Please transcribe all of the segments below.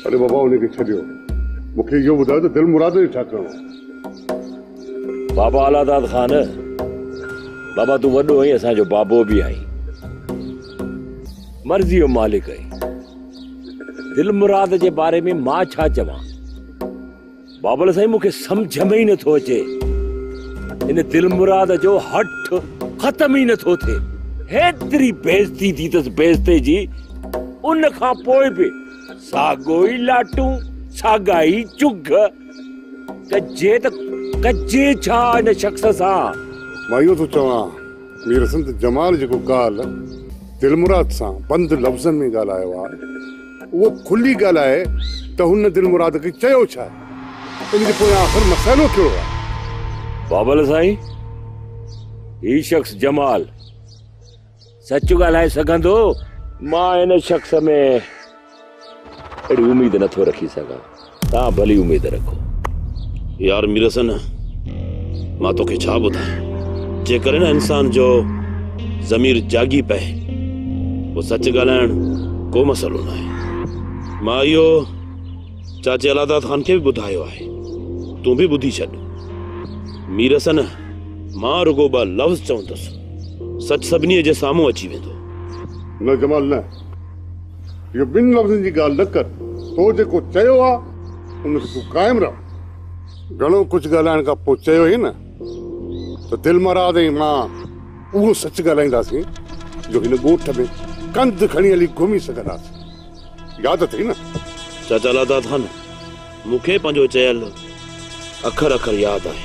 اڙي بابا انهي کي ڇڏيو مون کي اهو ٻڌايو ته دل مراد جو ڇا ڪرڻو آهي. بابا اعليٰ داد خان بابا تون وڏو آهين اسان جو بابو به آهين مرضي جو مالڪ آهين دل مراد جي باري ۾ مان ڇا چوان. بابل سائين مون کي سمجهه ۾ ئي نه ٿو اچي ان دلمراد جو هٺ ختم ئي نه ٿو ٿئي هيتري بيزتي ٿي تس بيزتي جي ان کان پوء به ساڳو ئي لاٽون ساڳا ئي چگهه ڪجي ته ڪجي ڇا ان شخص سان مان اهو ٿو چوان مير حسن ته جمال جيڪو ڪالهه دلمراد سان بند لفظن ۾ ڳالهايو آهي اهو کلي ڳالهه آهي ته هن دلمراد کي چيو ڇا ۽ ان جي پويان آخر مسئلو ڪهڙو آهي؟ بابل سائين، هي شخص جمال سچ ڳالهائي سگهندو؟ مان هن شخص ۾ اهڙي اميد نٿو رکي سگهان. توهان ڀلي اميد رکو. يار مير حسن مان توکي ڇا ٻڌايان جيڪڏهن نه انسان جو ضمير جاڳي پئي پوء سچ ڳالهائڻ ڪو مسئلو ناهي. مان اهو چاچي الهداد خان کي به ٻڌايو آهي تون به ٻڌي ڇڏ. مير حسن مان رڳو ٻه لفظ چوندس سچ سڀني جي سامهون اچي ويندو. نه جمال نه. اهو ٻن لفظن جي ڳالهه نه ڪر، تو جيڪو چيو آ، ان تي تون قائم رهه. گهڻو ڪجهه ڳالهائڻ کان پوء چيو هيئن نه ته دلمراد ۽ مان اهو سچ ڳالهائينداسين جو هن ڳوٺ ۾ ڪنڌ کڻي هلي گهمي سگهنداسين. ياد اٿئي نه؟ چاچا لاڌا ٿا نه، مون کي پنهنجو چيل اکر اکر ياد آهي.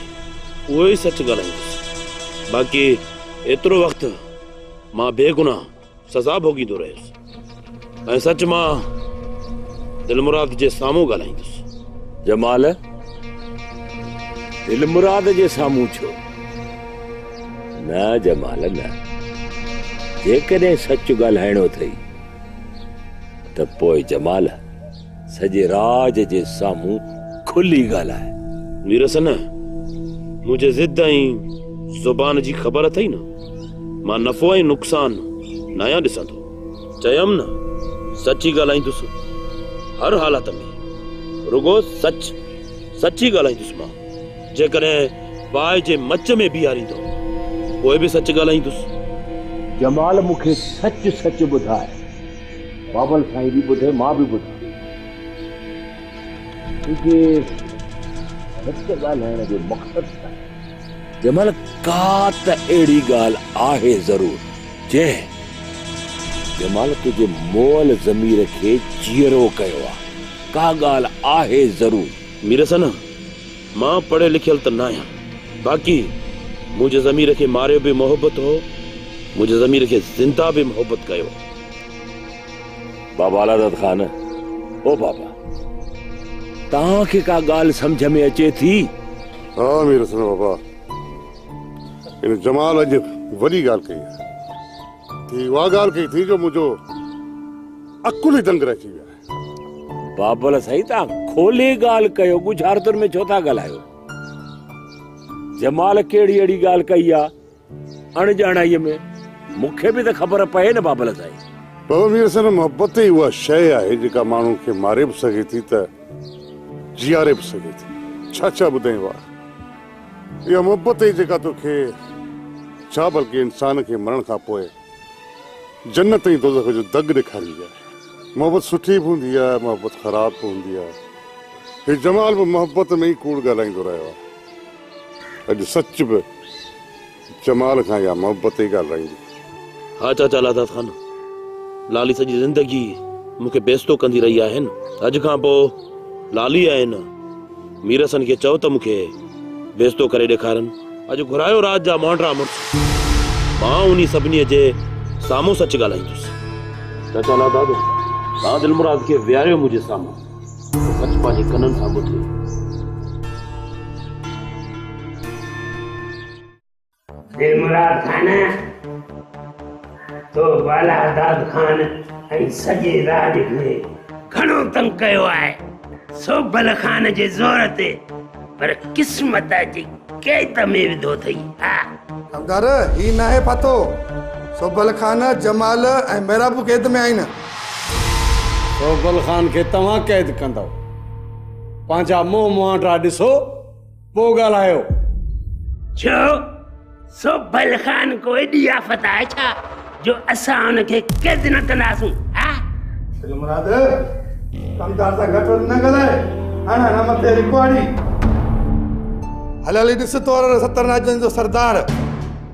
اهو ئي سچ ڳالهائيندس. باقي ايترو وقت مان بيگناهه سزا ڀوڳيندو رهيس ۽ سچ مان دلمراد جي سامهون ڳالهائيندس. جمال، دلمراد جي سامهون ڇو؟ نه جمال نه، جيڪڏهن سچ ڳالهائڻو اٿئي ته پوء جمال! سڄي راڄ جي سامهون کلي ڳالهاء. ويرس نه، مون جي ضد ۽ زبان جي خبر اٿئي نه، مان نفعو ۽ نقصان ناهيان ڏسندو. چيم نه، سچ ئي ڳالهائيندس، هر حالت ۾ رڳو سچ، سچ ئي ڳالهائيندس مان. جيڪڏهن باهه جي مچ ۾ بيهاريندو، پوء به سچ ڳالهائيندس. جمال مون کي سچ سچ ٻڌاء. بابل سائين به ٻڌي مان به ٻڌان تنهنجي سچ ڳالهائڻ جو مقصد ڇا آهي؟ جمل ڪا ته اهڙي ڳالهه آهي ضرور جنهن جمال تنهنجي مئل ضمير کي جيئرو ڪيو آهي ڪا ڳالهه آهي ضرور. ميرحسن! مان پڙهيل لکيل ته ناهيان باقي منهنجي ضمير کي ماريو به محبت هو منهنجي ضمير کي زنده به محبت ڪيو. بابا علادت خان، او بابا توهان کي ڪا ڳالهه سمجهه ۾ اچي ٿي؟ ها مير حسن بابا هن جمال اڄ وڏي ڳالهه ڪئي آهي هي اها ڳالهه ڪئي ٿي جو منهنجو عقل ئي دنگ رهجي ويو آهي. بابل سائين تان کولي ڳالهه ڪيو ڳجهارتن ۾ ڇو ٿا ڳالهايو جمال ڪهڙي اهڙي ڳالهه ڪئي آ اڻ ڄاڻائي ۾ مونکي به ته خبر پئي نه بابل سائين بابا مير حسن محبت ئي اها شيء آهي جيڪا ماڻهو کي ماري به سگهي ٿي ته جياري به سگهي ٿي ڇا ڇا ٻڌائين واء اها محبت ئي جيڪا توکي ڇا بلڪه انسان کي مرڻ کان پوء جنت ۽ دوزخ جو دڳ ڏيکاريندي آهي. محبت سٺي به هوندي آهي، محبت خراب به هوندي آهي. هي جمال به محبت ۾ ئي ڪوڙ ڳالهائيندو رهيو آهي. اڄ سچ به جمال کان اها محبت ئي ڳالهرائيندي. ها چاچا لادات خان، لالي سڄي زندگي مون کي بيستو ڪندي رهي آهي نه. اڄ کان پوء لالي آهي نه. مير حسن کي چئو ته مون کي بيستو ڪري ڏيکارن. اڄ گهرايو رات جا مانڊرا مڙس. مان انهي سڀني جي سامهون سچ ڳالهائيندس. چاچا ناداد، توهان دلمراد کي ويهاريو منهنجي سامهون ته سچ پنهنجي ڪنن سان ٻڌي. دلمراد خان، تو بالاداد خان ۽ سڄي راڄ کي گهڻو تنگ ڪيو آهي، سوڀل خان جي زور تي، پر قسمت جي قيد ۾ وڌو اٿئي. ها! ڪنگر، هي ناهي پتو، سوڀل خان، جمال ۽ ميرا به قيد ۾ آهن. سوڀل خان کي توهان قيد ڪندؤ، پنهنجا منهن مهانڊا ڏسو. پوء ڳالهايو. ڇو؟ سوڀل خان ڪو ايڏي آفت آهي ڇا جو اسان ان کي قيد نه ڪنداسون؟ ها؟ سڄو مراد، ڪمدار سان گهٽ وڌ نه ڳالهاء. هڻ هڻ مٿي رڪواڙي. هل هلي ڏس تور ستر ناجن جو سردار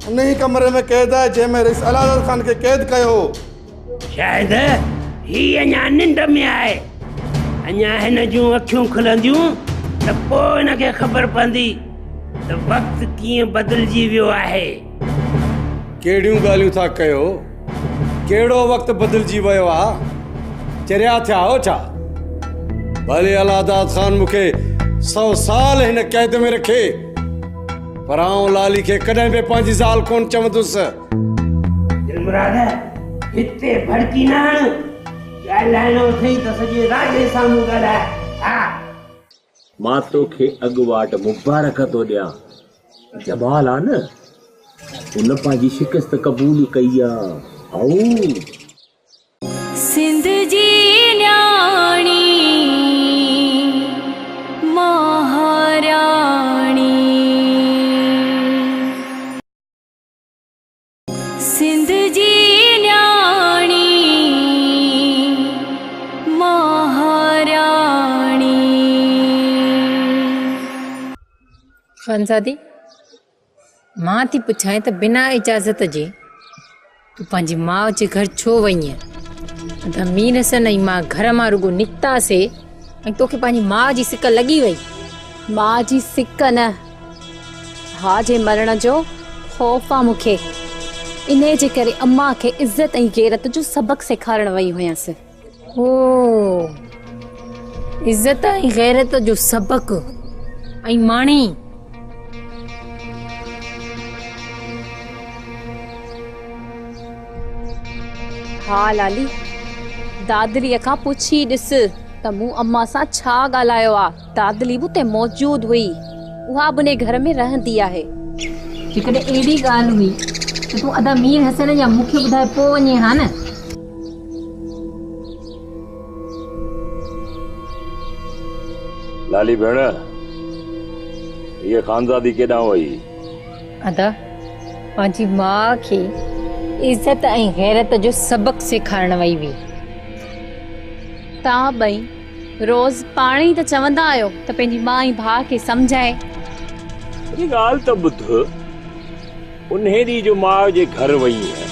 انهيء ڪمري ۾ قيد آهي جنهن ۾ رئيس الهادر خان کي قيد ڪيو هو. شايد هي اڃا ننڊ ۾ آهي اڃا هن جون اکيون کلنديون ته پوء هن کي خبر پوندي ته وقت ڪيئن بدلجي ويو آهي ڪهڙيون ڳالهيون ٿا ڪيو ڪهڙو وقت بدلجي ويو آهي چريا ٿيا آهو ڇا ڀلي الهداد خان مون کي سو سال هن قيد ۾ رکي پر آئون لالي کي ڪڏهن به پنهنجي زال ڪونه چوندس دلمراد هتي ڀڙڪي نه هڻ. ڳالهائڻو اٿئي ته سڄي راڄي سامهون ڳالهاء ها. مان توکي اڳواٽ مبارڪ ٿو ڏيان. جمال آ نه ان پنهنجي شڪست قبول ڪئي آ هائو. سنڌ جي نياڻي مهاراڻي. سنڌ جي نياڻي مهاراڻي. خانزادي! مان ٿي پڇانء ته بنا اجازت جي تون پنهنجي ماء جي گهر ڇو وئينء؟ ادا مير حسن ۽ مان گهر مان رڳو نڪتاسي ۽ توکي پنهنجي ماء جي سڪ لڳي وئي. ماء جي سڪ نه ڀاء جي مرڻ جو خوف آ مون کي، انهيء جي ڪري اما کي عزت ۽ غيرت جو سبق سيکارڻ وئي هيس. او! عزت ۽ غيرت جو سبق ۽ ماڻي! ڀاء لالي، دادريء کان پڇي ڏس ته مون اما سان ڇا ڳالهايو آ؟ دادلي به اتي موجود هئي. اها به انهي گهر ۾ رهندي آهي. جيڪڏهن اهڙي ڳالهه هئي ته تون ادا مير حسين جا مون کي ٻڌائي پوء وڃين ها نه. لالي ڀيڻ هيء خانزادي ڪيڏانهن وئي؟ ادا پنهنجي ماء کي عزت ۽ غيرت جو سبق سيکارڻ وئي هئي. توهان ٻئي روز پاڻ ئي ته چوندا آهيو ته پنهنجي ماء ۽ ڀاء کي سمجهائي. اڄ ڳالهه ته ٻڌ. انهي ڏينهن جو ماء جي گهر وئي هئين.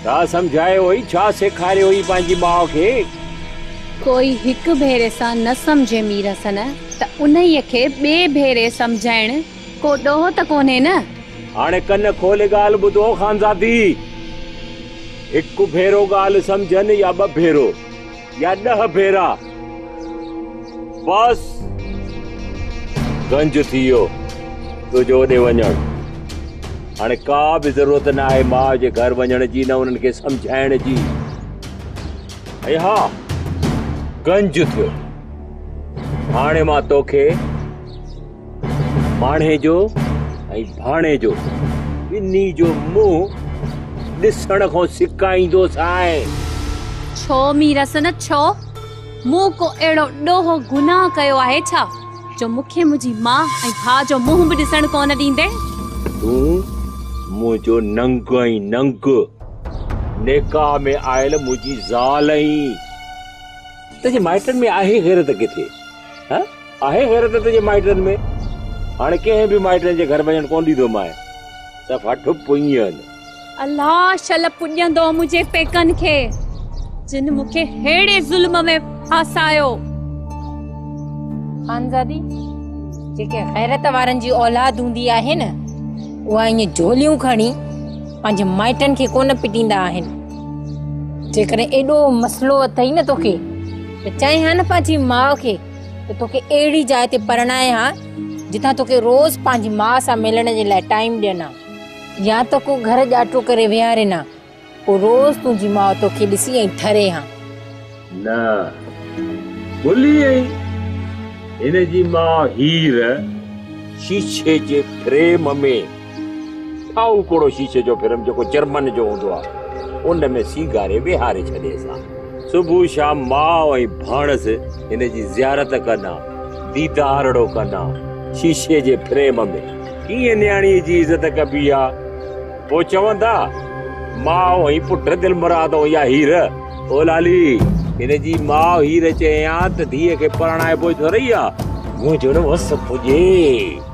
ڇا سمجهايو هئي؟ ڇا سيکاريو هئي پنهنجي ماء کي؟ ڪوئي هڪ ڀيري سان نه سمجهي مير حسن ته انهيء کي ٻئي ڀيري سمجهائڻ ڪو ڏوهه ته ڪونهي نه؟ هاڻي ڪن کولي ڳالهه ٻڌو خانزادي! هڪ ڀيرو ڳالهه سمجهن يا ٻه ڀيرو. يا ڏهه ڀيرا بس گنج ٿي ويو تنهنجو اوڏي وڃڻ هاڻي ڪا به ضرورت نه آهي ماء جي گهر وڃڻ جي نه انهن کي سمجهائڻ جي ۽ ها گنج ٿيو هاڻي مان توکي ماڻهيجو ۽ ڀاڻيجو ٻنهي جو منهن ڏسڻ کان سڪائيندوس آء. ڇو ميرس نه ڇو؟ مون ڪو اهڙو ڏوهه گناهه ڪيو آهي ڇا، جو مون کي منهنجي ماء ۽ ڀاء جو منهن به ڏسڻ ڪونه ڏيندين؟ تون منهنجو ننگ آهين ننگ. نڪاح ۾ آيل منهنجي زال آهين. تنهنجي مائٽن ۾ آهي غيرت ڪٿي؟ ها آهي غيرت تنهنجي مائٽن ۾ هاڻي ڪنهن به مائٽن جي گهر وڃڻ ڪونه ڏيندو مانء دفعا ٺپ پڃين. الله شل پڄندو منهنجي پيڪن کي جن مون کي ههڙي ظلم ۾ ڦاسايو. خانزادي جيڪي غيرت وارن جي اولاد هوندي آهي نه اها ائين جهوليون کڻي پنهنجي مائٽن کي ڪونه پٽيندا آهن جيڪڏهن ايڏو مسئلو اٿئي نه توکي ته چئين ها نه پنهنجي ماء کي ته توکي اهڙي جاء تي پرڻايان ها جتان توکي روز پنهنجي ماء سان ملڻ جي لاء ٽائيم ڏين ها يا ته ڪو گهر ڄاٽو ڪري ويهارين ها پوء روز تنهنجي ماء توکي ڏسي ۽ ٿري ها. نه ڀلي ائين. هن جي ماء هير شيشي جي فريم ۾ سائو پوڙهو شيشي جو فريم جيڪو جرمن جو هوندو آهي، ان ۾ سينگاري ويهاري ڇڏيس ها. صبح شام ماء ۽ ڀاڻس هن جي زيارت ڪن ها، ديدارڙو ڪن ها. شيشي جي فريم ۾ ڪيئن نياڻيء جي عزت ڪبي ها. پوء چون ٿا، ماء ۽ پٽ دلمراد ۽ يا هير. او لالي! هن جي ماء هير چيائين ها ته ڌيء کي پرڻائبو ئي ٿورئي ها. منهنجو نه وس پڄي.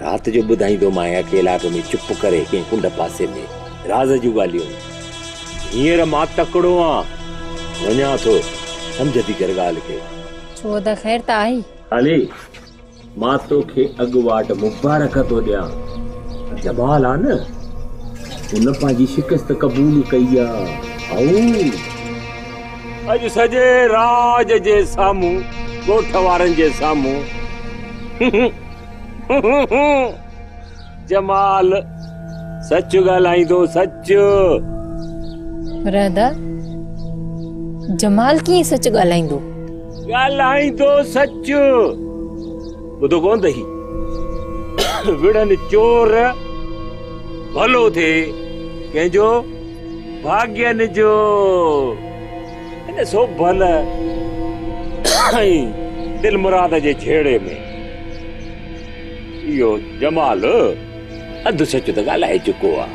رات جو ٻڌائيندومانء اڪيلا اڳ ۾ چپ ڪري ڪنهن ڪنڊ پاسي ۾ راز جون ڳالهيون. هينئر مان تڪڙو آن، وڃان ٿو، سمجهه ٿي ڪر ڳالهه کي. ڇو ادا خير ته آهي؟ علي، مان توکي اڳواٽ مبارڪ ٿو ڏيان. جمال آ نه، ان پنهنجي شڪست قبول ڪئي آ. هائو! اڄ سڄي راڄ جي سامهون، ڳوٺ وارن جي سامهون. جمال، سچ ڳالهائين ٿو سچ. رحده، جمال ڪيئن سچ ڳالهائيندو؟ ڳالهائين ٿو سچ. ٻڌو ڪونه اٿئي وڙهن چور ڀلو ٿئي ڪنهن جو ڀاڳين جو. هن سوڀل ۽ دلمراد جي جهيڙي ۾ اهو جمال اڌ سچ ته ڳالهائي چڪو آ.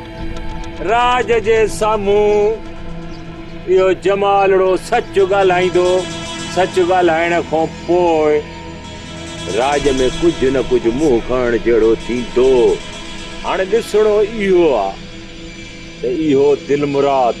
راڄ جي سامهون اهو جمالڙو سچ ڳالهائيندو. سچ ڳالهائڻ کان پوء راڄ ۾ ڪجهه نه ڪجهه منهن کڻڻ جهڙو ٿيندو. هاڻي ڏسڻو اهو آ ته اهو دلمراد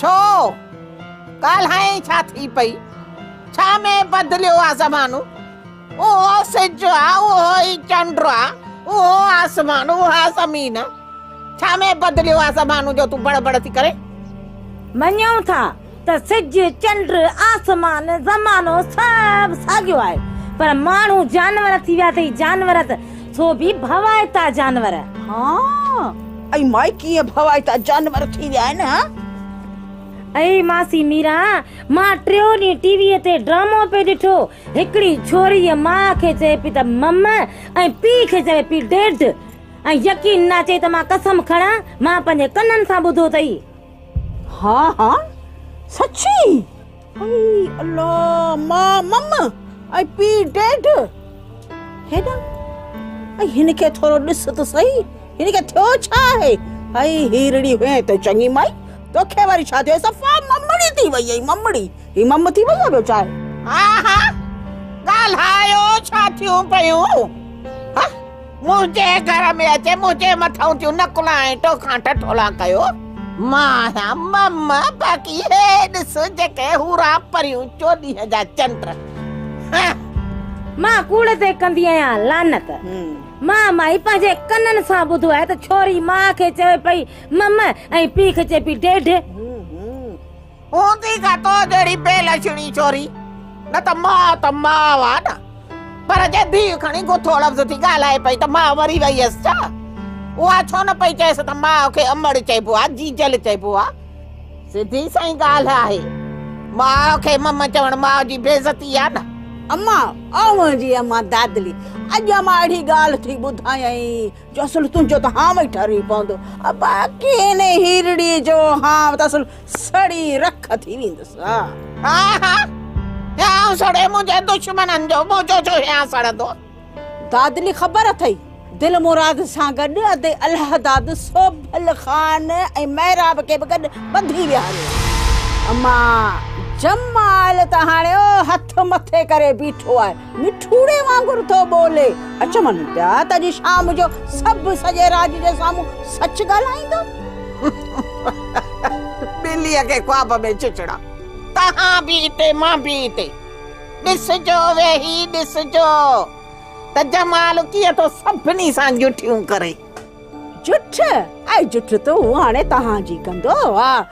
ڇو؟ ڳالهائين ڇا ٿي پئي؟ ڇا ۾ بدليو آ زمانو؟ اهو سج آ، اهو ئي چنڊ آ، اهو آسمان، اها زمين. ڇا ۾ بدليو آ زمانو جو تون بڙ بڙ ٿي ڪرين؟ مڃيون ٿا ته سج، چنڊ، آسمان، زمانو سڀ ساڳيو آهي، پر ماڻهو جانور ٿي ويا اٿئي جانور ته سو به ڀوائتا جانور. ها! اي مائي ڪيئن ڀوائتا جانور ٿي ويا آهن ها. اي ماسي ميرا مان ٽيون ڏينهن ٽي ويء تي ڊرامو پئي ڏٺو هڪڙي ڇوريء ماء کي چئي پئي ته مم ۽ پيء کي چوي پئي ڊيڊ ۽ يقين نه اچي ته مان قسم کڻان مان پنهنجي ڪنن سان ٻڌو اٿئي. ها ها سچي. اي الله ماء مم ۽ پي ڊيڊ هيڏانهن ۽ هن کي ٿورو ڏس ته سهي هن کي ٿيو ڇا آهي هائي هيرڙي هئين ته چڱي مائي توکي وري ڇا ٿيو صفا ممڙي ٿي وئي آهي ممڙي هي مم ٿي وئي آهي ٻيو ڇا آهي ها ها ڳالهايو ڇا ٿيون پيون ها منهنجي گهر ۾ اچي منهنجي مٿان ٿيون نقلا ۽ ٽوکان ٽٽولا ڪيو مان آهيان مم باقي هي ڏس جيڪي هورا پريون چوڏهن جا چنڊ مان ڪوڙ تي ڪندي آهيان لعنت مان مائي پنهنجي ڪنن سان ٻڌو آهي ته ڇوري مان کي چوي پئي مم ۽ پيء کي چئي پئي ڊيڊ هوندي ڪا تو جهڙي بي لڇڻي ڇوري، نه ته ماء ته ماء آ نه، پر جي ڌيء کڻي گٿو لفظ ٿي ڳالهائي پئي ته ماء مري وئي هيس ڇا؟ اها ڇو نه پئي چئيس ته ماء کي امڙ چئبو آ، جيجل چئبو آ. سڌي سئي ڳالهه آهي، ماء کي مم چوڻ ماء جي بيعزتي آ نه. اما، اوهان جي اما دادلي، اڄ امان اهڙي ڳالهه ٿي ٻڌايائين جو اصل تنهنجو ته هانء ئي ٺري پوندو. ابا، ڪنهن هيرڙيء جو هانء ته اصل. سڙي رک ٿي ويندس ها ها ها يا سڙي منهنجي دشمنن جو موجو جو يا سڙندو دادلي خبر اٿئي دل مراد سان گڏ ادي الله داد سوڀل خان ۽ محراب کي به گڏ ٻڌي ويهاريو اما جمال ته هاڻي او هٿ مٿي ڪري بيٺو آهي مٺوڙي وانگر ٿو ٻولي. اچ مڃ پيا ته اڄ شام جو سڀ سڄي راڄ جي سامهون سچ ڳالهائيندو. ٻليء کي خواب ۾ چچڙا. تهان به اتي مان به اتي. ڏسجو ويهي ڏسجو ته جمال ڪيئن ٿو سڀني سان جٺيون ڪري. جٺ ۽ جٺ تون هاڻي تهان جي ڪندو. ها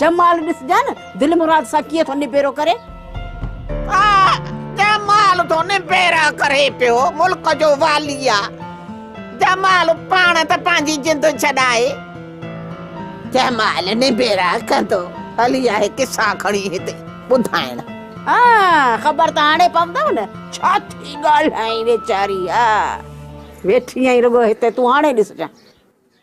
جمال ڏسجان دلمراد سان ڪيئن ٿو نبيرو ڪري. ها جمال ٿو نبيرا ڪري پيو ملڪ جو والي آ جمال پاڻ ته پنهنجي جند ڇڏائي. جمال نبيرا ڪندو هلي آهي قصا کڻي هتي ٻڌائڻ. ها خبر ته هاڻي پوندو نه ڇا ٿي ڳالهائين ويچاري ها. ويٺي آهين رڳو هتي تون هاڻي ڏسجان.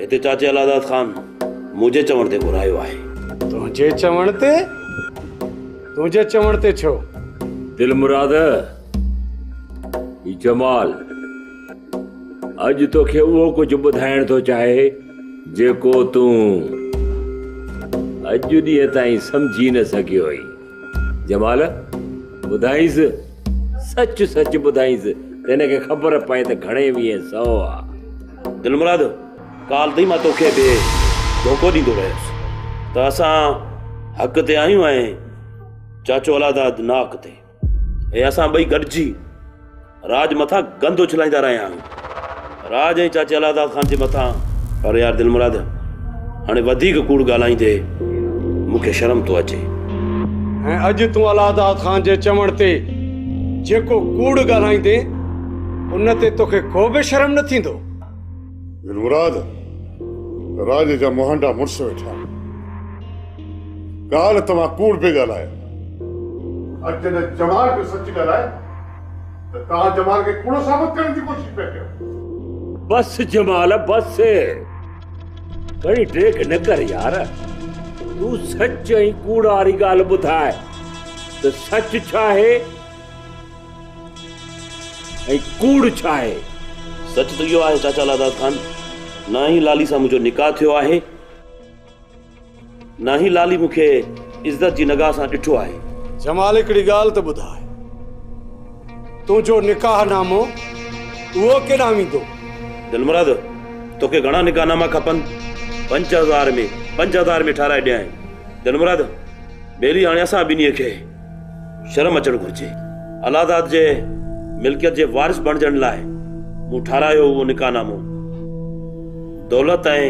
هتي چاچي الهداد خان منهنجي چوڻ تي گهرايو آهي. تنهنجي چوڻ تي؟ تنهنجي چوڻ تي ڇو؟ دلمراد، هي جمال اڄ توکي اهو ڪجهه ٻڌائڻ ٿو چاهي جيڪو تون اڄ ڏينهن تائين سمجهي نه سگهيو هئين. جمال، ٻڌائينس، سچ سچ ٻڌائينس ته هن کي خبر پئي ته گهڻي ويهين سئو آ. دلمراد، ڪالهه تائين مان توکي به ڌوڪو ڏيندو رهيس ته اسان حق تي آهيون ۽ چاچو الهداد ناحق تي ۽ اسان ٻئي گڏجي راڄ مٿان گند اڇلائيندا رهيا آهيون. راڄ ۽ چاچي الهداد خان جي مٿان. پر يار دلمراد هاڻي وڌيڪ ڪوڙ ڳالهائيندي مون کي شرم ٿو اچي. ۽ اڄ تون الهداد خان جي چوڻ تي جيڪو ڪوڙ ڳالهائيندين ان تي توکي ڪو به شرم نه ٿيندو. دلمراد راڄ جا مهانڊا مڙس ويٺا آهن. ڳالهه توهان ڪوڙ پئي ڳالهايو. اڄ جڏهن چوان پيو سچ ڳالهاء. ته توهان جمال کي ڪوڙو ثابت ڪرڻ جي ڪوشش پيا ڪيو. بس جمال بس گهڻي ڊيگهه نه ڪر يار تون سچ ۽ ڪوڙ واري ڳالهه ٻڌاء ته سچ ڇا آهي ۽ ڪوڙ ڇا آهي. سچ ته اهو آهي چاچا لاڌار خان نه ئي لالي سان منهنجو نڪاح ٿيو آهي. ناهي لالي مون کي عزت جي نگاهه سان ڏٺو آهي. جمال هڪڙي ڳالهه ته ٻڌاء تنهنجو نڪاح نامو اهو ڪيڏانهن ويندو؟ دلمراد توکي گهڻا نڪاح ناما کپن؟ پنج هزار ۾ پنج هزار ۾ ٺاهرائي ڏيانء. دلمراد ٻيلي هاڻي اسان ٻنهي کي شرم اچڻ گهرجي. الهاداد جي ملڪيت جي وارث بڻجڻ لاء مون ٺاهرايو اهو نڪاح نامو. دولت ۽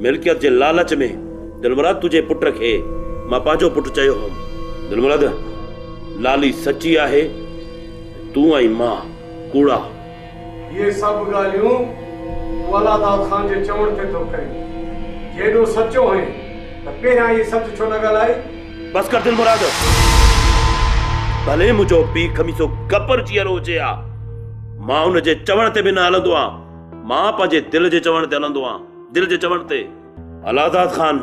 ملڪيت جي لالچ ۾ دلمراد تنهنجي پٽ کي مان پنهنجو پٽ چيو هوم. دلمراد، لالي سچي آهي ته تون ۽ مان ڪوڙا. اهي سڀ ڳالهيون تون الله داد خان جي چوڻ تي ٿو ڪرين. جي ايڏو سچو هئين ته پهريان اهي سچ ڇو نه ڳالهائي؟ بس ڪر دلمراد! ڀلي منهنجو پيء خميسو گبر جيئرو هجي ها، مان ان جي چوڻ تي به نه هلندو آهيان. مان پنهنجي دل جي چوڻ تي هلندو آهيان. دل جي چوڻ تي. الهداد خان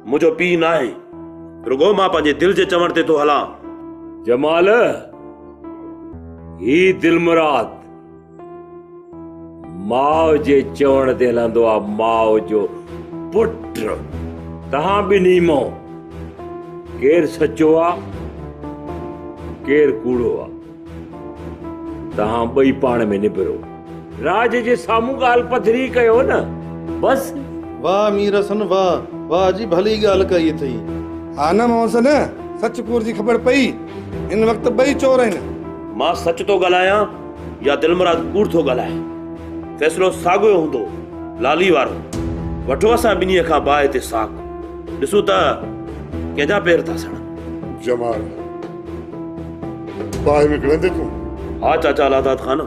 منهنجو پيء ناهي، رڳو مان پنهنجي دل جي چوڻ تي ٿو هلان. جمال، هي دلمراد ماء جي چوڻ تي هلندو آ، ماء جو پٽ، توهان ٻنهي مان ڪير سچو آ، ڪير ڪوڙو آ. توهان ٻئي پاڻ ۾ نبرو. راڄ جي سامهون ڳالهه پڌري ڪيو نه بس. واه مير حسن واه واه جي ڀلي ڳالهه ڪئي اٿئي. ها نه مون سين سچ ڪوڙ جي خبر پئي هن وقت ٻئي چور آهن. مان سچ ٿو ڳالهايان يا دلمراد ڪوڙ ٿو ڳالهائي فيصلو ساڳيو هوندو لالي وارو وٺو اسان ٻنهي کان باهه تي ساک ڏسون ته ڪنهن جا پير ٿا سڙن. جمال باهه ۾ گهڙندين تون؟ ها چاچا لاداد خان،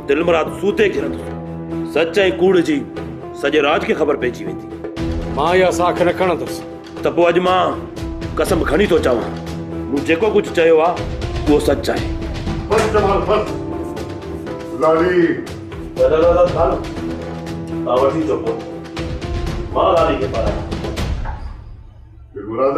دلمراد سوتي گهرندو. سچ ۽ ڪوڙ جي سڄي راڄ کي خبر پئجي ويندي. مان اها ساک نه کڻندس. ته پوء اڄ مان قسم کڻي ٿو چوان، مون جيڪو ڪجهه چيو آهي، اهو سچ آهي. بس جمال بس. لالي. چاچا لاداد خان، توهان وٺي اچو پوء مان لالي کي پارايان. دلمراد!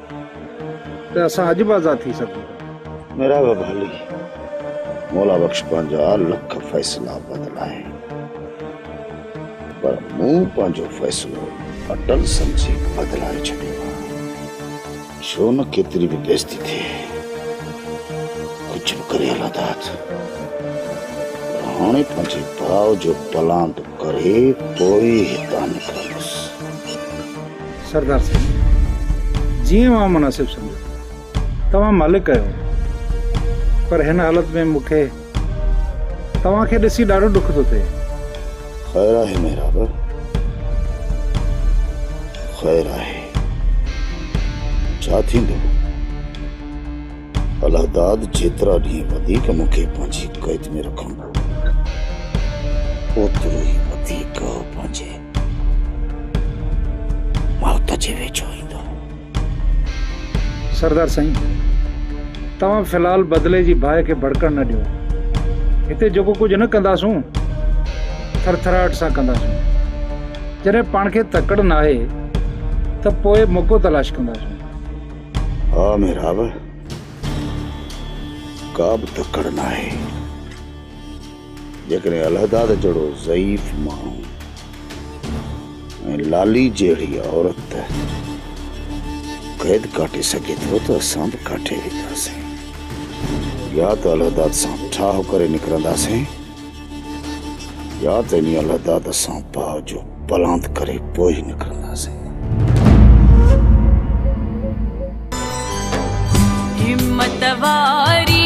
ته اسان اڄ به آزاد ٿي سگهون ٿا. ميرا به ڀالي مولا بخش پنهنجا لک فيصلا بدلائي پر مون پنهنجو فيصلو اٽل سمجهي بدلائي ڇڏيو آ ڇو نه ڪيتري به بيزتي ٿئي ڪجهه به ڪري الاداد پر هاڻي پنهنجي ڀاء جو پلاند ڪري پوء ئي هتان نڪرندس. سردار سائين جيئن اوهان مناسب سمجهو توهان مالڪ آهيو پر هن حالت ۾ مون کي توهان کي ڏسي ڏاڍو ڏک ٿو ٿئي خير آهي محراب خير آهي ڇا ٿيندو الهداد جيترا ڏينهن وڌيڪ مون کي پنهنجي قيد ۾ رکندو اوترو ئي وڌيڪ پنهنجي موت جي ويجهو ايندو. سردار سائين، توهان في الحال بدلي جي باهه کي ڀڙڪڻ نه ڏيو. هتي جيڪو ڪجهه نه ڪنداسون، ٿرٿراهٽ سان ڪنداسون. جڏهن پاڻ کي تڪڙ ناهي ته پوء موقعو تلاش ڪنداسون. ها محراب، ڪا به تڪڙ ناهي. جيڪڏهن الهداد جهڙو ضعيف ماڻهو ۽ لالي جهڙي عورت قيد ڪاٽي سگهي ٿو ته اسان به ڪاٽي وينداسين يا ته الهداد سان ٺاهه ڪري نڪرنداسين يا ته انهي الهداد سان باء جو پلانت ڪري پوء ئي نڪرنداسين همت واري